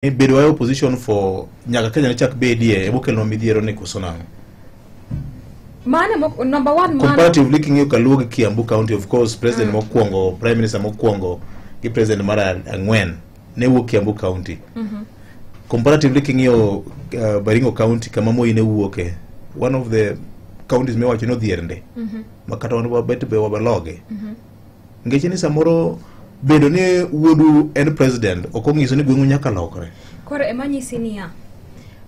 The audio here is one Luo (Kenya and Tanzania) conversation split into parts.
ni bedo wa opposition for nyaka Kenya ne chak bedie ebo kelno midhiero ni koso nang'o mane mok- number one mane comparatively king'iyo kaluo gi kiambu county of course president mokwongo prime minister mokwongo gi president mar a- ang'wen ne wuok kiambu county comparatively king'iyo uh, baringo county kama moi ne wuoke one of the counties miwacho ni odhier ndi ma kata wan wabet be wabaloge ngeche ni samoro bedo ni wuodu en president ok ong'iso ni gweng'u nyaka lokre koro ema nyisi niya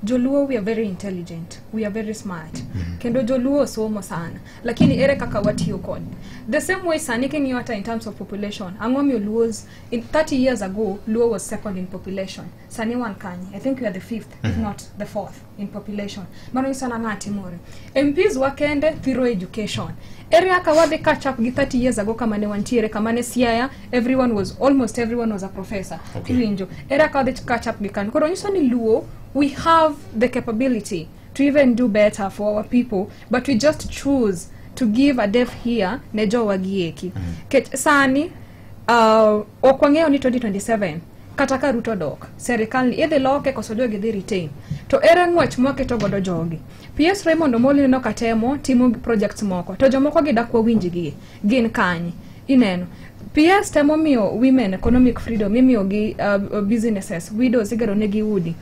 joluo we are very intelligent we are very smart mm -hmm. kendo joluo osomo sana lakini ere kaka watiyo kod the same way sani king'iyo hata in terms of population ang'o miyo luos in 30 years ago luo was second in population sani wan kanye i think we are the fifth mm -hmm. if mhm. not the fourth in population mano nyiso na ng'a timore mps wa kende thiro education area ka wadhi catch up gi 30 years ago kama ne wantiere kama ne siaya everyone was almost everyone was a professor okay. iwinjo area ka wadhi catch up gi kanyo koro nyiso ni luo we have the capability to even do better for our people but we just choose to give a deaf here ne jowa gieki mm -hmm. sani uh, Ok wang'eyo ni 2027 kata ka Ruto dok, serikal ni idhi loke koso jogi dhi retain. To ere ng'wech mwaketo godo jogi? PS Raymond Omolo ineno ka temo timo projects moko, to jomoko gidakwa winjigi gin kanye? Ineno. PS temo miyo women economic freedom, imiyogi uh, businesses, widows igero negi udi.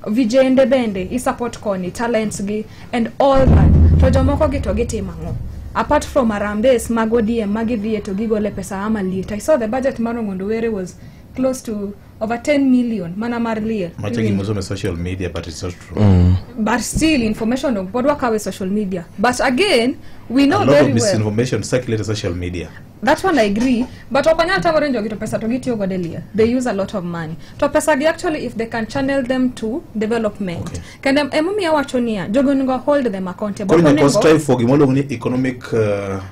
vijende bende i support koni talents gi and all that to jomoko gi to gitimo ang'o apart from arambes mag odm ma gidhiye to gigole pesa ama liet i saw the budget mar ongondo were was close to over 10 million mana mar liel Macha gimoso me social media but it's not true. but still information ok pod wakawe social media but again we know A lot very of well misinformation circulates on social media. That one I agree, but opanya hata wale ndio kitu pesa to get yoga delia. They use a lot of money. To pesa gi actually if they can channel them to development. Okay. Can them emumi ya wachonia jogo ngo hold them accountable. Kwa nini strive for gimolo ni economic uh,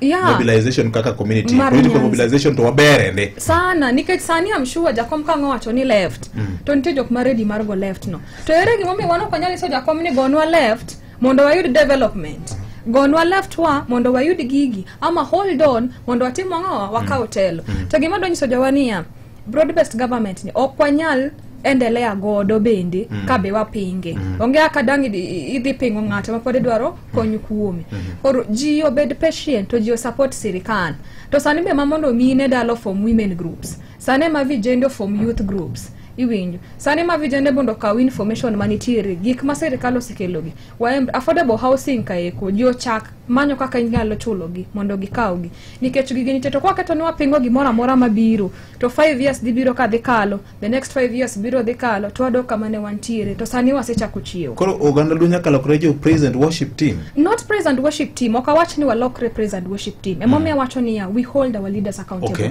yeah. mobilization kaka community, Mari political nyanzi. mobilization to wabere ne. Sana nikech sani am sure jakom kango wacho ni left. Mm. To nite jok maredi margo left no. To ere gimomi wano kwanyali so jakom ni gonwa left. mondo wayud development gonwa leftwa mondo wayud gigi ama hold on mondo watim ang'owa wakaw telo to gima donyiso jowa niya broad based government ni ok wanyal endelea godo bende ka be wapinge onge kaka dang' idhi- idhi pingo ng'ato mapod idwaro kony kuome koro ji obed patient to ji osupport sirikal to sani be ma mondo mine dalo form women groups sane ma vijende ofom youth groups iwinjo sane ma vijende mondo okaw information manitiere gik ma sirikal osekelogi waemb affordable housing kaeko ji ochak manyo kaka inyalo chulogi mondo gikawgi nikech gigi nitie to kwaketo ni wapingo gimoro amora mabiro to 5 years dhi biro ka dhi kalo the next 5 years biro dhi kalo to wadok kama ne wantiere to sani wasechako chiewo koro oganda luo nyaka lokre jo praise and worship team not praise and worship team ok awach ni walokre praise and worship team emomiyo awacho niya we hold our leaders accountable Okay.